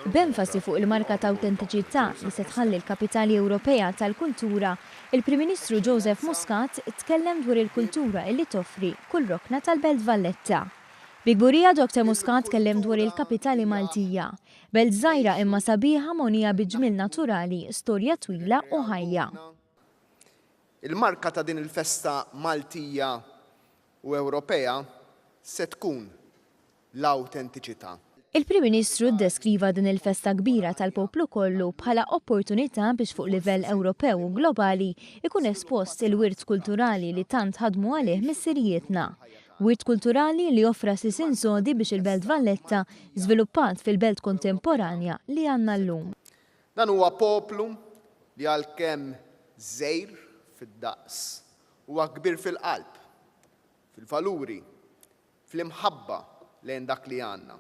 B'enfasi fuq il-marka ta' awtentiċità li se tħalli l-Kapitali Ewropea tal-Kultura, il-Prim Ministru Joseph Muscat tkellem dwar il-kultura li toffri kull rokna tal-Belt Valletta. Bi kburija Doctor Muscat tkellem dwar il-Kapitali Maltija, belt żgħira imma sabiħa mogħnija bi ġmiel naturali, storja twila u ħajja. Il-marka ta' din il-festa Maltija u Ewropea se tkun l-awtentiċità. Il-Prim Ministru ddeskriva din il-festa kbira tal-poplu kollu bħala opportunità biex fuq livell Ewropew u globali jkun espost il-wirt kulturali li tant ħadmu għalih missirijietna. Wirt kulturali li offra sisin sodi biex il-Belt Valletta żviluppat fil-belt kontemporanja li għandna llum. Dan huwa poplu li għalkemm żgħir fid-daqs Huwa kbir fil-qalb, fil-valuri, fl-imħabba lejn dak li għandna.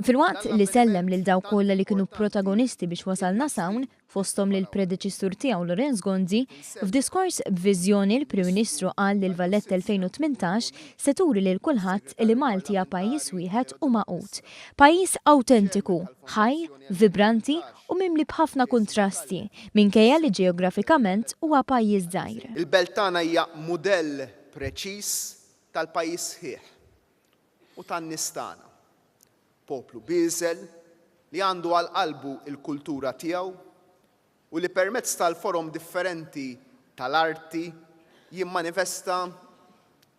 Filwaqt li sellem lil dawk kollha li kienu protagonisti biex wasalna s'hawn, fosthom lill-predeċessur tiegħu Lorenz Gonzi, f'diskors b'viżjoni l-Prim Ministru qal li l-Valletta 2018 se turi lil kulħadd li Malti hija pajjiż wieħed u magħqud. Pajjiż awtentiku, ħaj, vibranti u mimli b'ħafna kuntrasti, minkejja li ġeografikament huwa pajjiż żgħir. Il-belt tagħna hija mudell preċiż tal-pajjiż sħiħ u tan-nies tagħna. Poplu bieżel li għandu għal qalbu l-kultura tiegħu u li permezz tal-forom differenti tal-arti jimmanifesta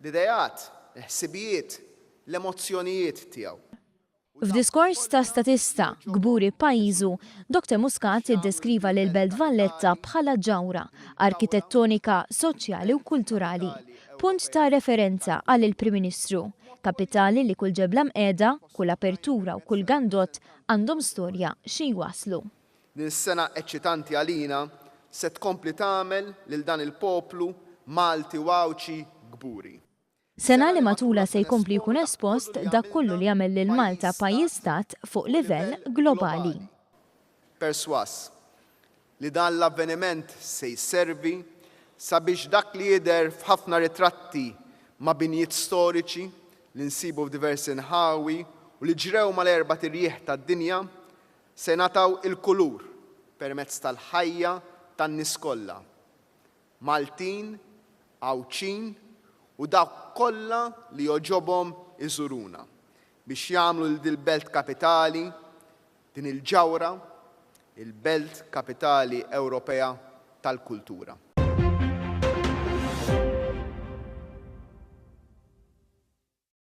l-ideat, il-ħsibijiet, l-emozzjonijiet tiegħu. F'diskors ta' statista, kburi b'pajjiżu, Doctor Muscat iddeskriva lill-Belt Valletta bħala ġawhra, arkitettonika, soċjali u kulturali. Punt ta' referenza, qal il-Prim Ministru, kapitali li kull ġebla mqiegħda, kull apertura u kull gandott għandhom storja xi jwasslu. Din is-sena eċċitanti għalina se tkompli tagħmel lil dan il-poplu Malti u Għawdxi kburi. Sena li matulha se jkompli jkun espost dak kollu li jagħmel lil Malta pajjiż-stat fuq livell globali. Persważ li dan l-avveniment se jservi sabiex dak li jidher f'ħafna ritratti ma' binjiet storiċi li nsibu f'diversi nħawi u li ġrew mal-erbat irjieħ tad-dinja se jingħataw il-kulur permezz tal-ħajja tan-nies kollha Maltin, Għawdxin u dawk kollha li jogħġobhom iżuruna biex jagħmlu lil dil-belt kapitali, din il-ġawhra, il-Belt Kapitali Ewropea tal-Kultura.